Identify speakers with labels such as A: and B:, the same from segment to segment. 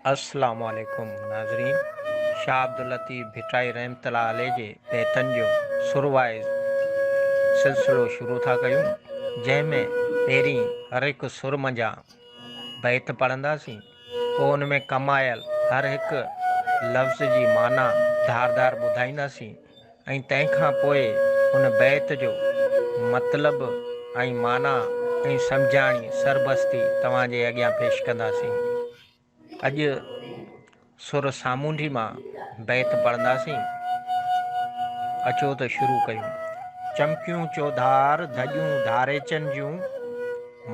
A: السلام عليڪم ناظرين شاھ عبداللطيف ڀٽائي رحمت الله عليه جي بيتن جو سر وائز سلسلو شروع ٿا ڪيون جنهن ۾ پهرين هر هڪ سر منجهان بيت پڙهنداسين پوء ان ۾ ڪم آيل هر هڪ لفظ جي معنيٰ ڌار ڌار ٻڌائينداسين ۽ تنهن کان پوء هن بيت جو مطلب ۽ معنيٰ ۽ سمجهاڻي سربستي توهان جي اڳيان پيش ڪنداسين. اڄ سر سامونڊي مان بيت پڙهنداسين. اچو ته شروع ڪيون. چمڪيون چوڌار ڌڄون ڌاريچن جون،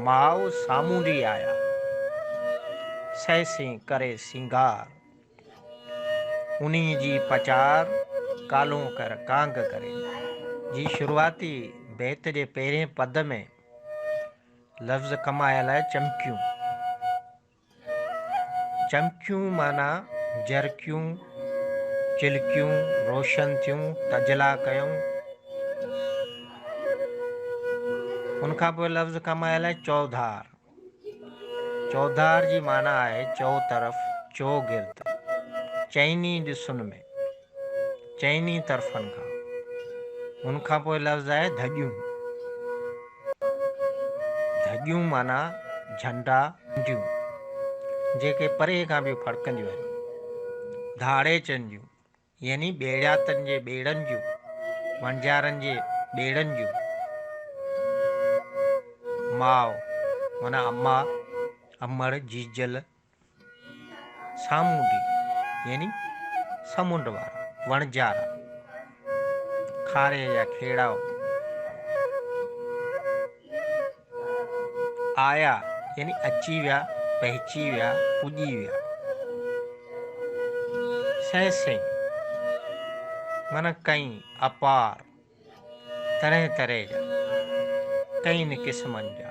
A: ماء سامونڊي آيا، سهسين ڪري سينگار. انهي جي پچار ڪالهون ڪر ڪانگ ڪري جي شروعاتي بيت جي پهرين پد ۾ لفظ ڪمايل آهي چمڪيون چمڪيون معنيٰ جرڪيون چلڪيون روشن ٿيون تجلا ڪيون ان کان پوء لفظ ڪمايل آهي چوڌار چوڌار جي معنيٰ آهي چؤطرف، چوگرد، چئني ڏسن ۾، چئني طرفن کان. ان کان پوء لفظ آهي ڌڄيون. ڌڄيون معنيٰ جهنڊا، جهنڊيون، جيڪي پري کان به ڦڙڪنديون آهن. ڌاڙي چئن جون، يعني ٻيڙياتن جي ٻيڙن جون، وڻجارن جي ٻيڙن جون. ماء معنيٰ اما، امڙ، جيجل، سامونڊي يعني سمنڊ وارا، وڻجارا، کاري جا کيڙائو. آيا يعني اچي ويا، پهچي ويا، پڄي ويا. سهي سهي معنيٰ ڪئين اپار، طرح طرح جا، ڪئين قسمن جا.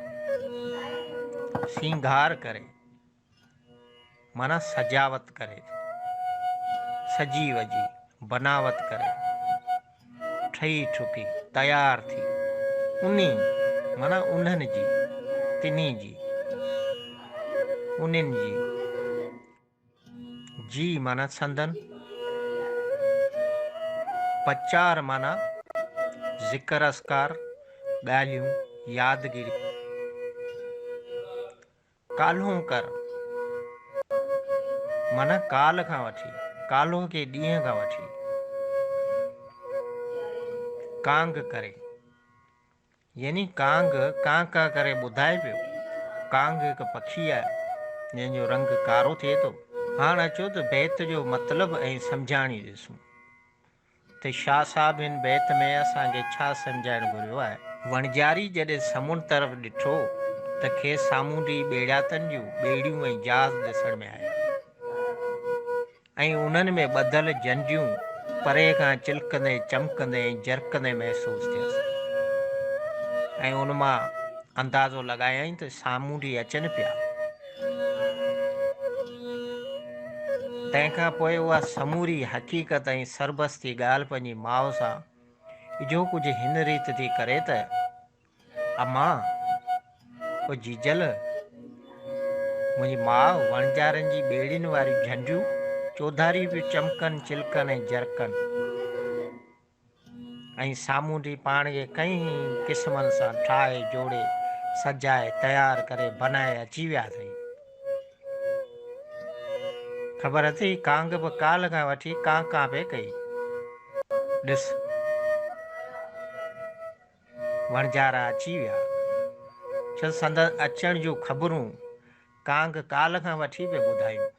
A: سينگار ڪري. معنيٰ سجاوت ڪري، سجي وجهي، بناوت ڪري، ٺهي ٺڪي، تيار ٿي، انهي، معنيٰ انهن جي، تنهي جي، انهن جي، جي معنيٰ سندن، پچار معنيٰ ذڪر اذڪار، ڳالهيون، يادگيريون، ڪالهون ڪر، معنيٰ ڪالهه کان وٺي، ڪالهه جي ڏينهن کان وٺي، ڪانگ ڪري، يعني ڪانگ ڪان ڪان ڪري ٻڌائي پيو، ڪانگ هڪ پکي آهي، جنهن جو رنگ ڪارو ٿئي ٿو. هاڻ اچو ته بيت جو مطلب ۽ سمجهاڻي ڏسون. ته شاهه صاحب هن بيت ۾ اسان کي ڇا سمجهائڻ گهريو آهي؟ وڻجاري جڏهن سمنڊ طرف ڏٺو ته کيس سامونڊي ٻيڙياتن جون ٻيڙيون ۽ جهاز ڏسڻ ۾ آيا ۽ انهن ۾ ٻڌل جنڊيون پري کان چلڪندي، چمڪندي ۽ جرڪندي محسوس ٿيس ۽ ان مان اندازو لڳايائين ته سامونڊي اچن پيا. تنهن کان پوء اها سموري حقيقت ۽ سربستي ڳالهه پنهنجي ماء سان اجهو ڪجهه هن ريت ٿي ڪري ته اما او جيجل منهنجي ماء وڻجارن جي ٻيڙين واريون جهنڊيون چوڌاري پيون چمڪن چلڪن ۽ جرڪن ۽ سامونڊي پاڻ کي ڪئين ئي قسمن سان ٺاهي جوڙي سجائي تيار ڪري بنائي اچي ويا اٿئي. خبر اٿئي ڪانگ به ڪالهه کان وٺي ڪان ڪان پئي ڪئي. ڏس وڻجارا اچي ويا چل سندس اچڻ جون خبرون ڪانگ ڪالهه کان وٺي پئي ٻڌايون.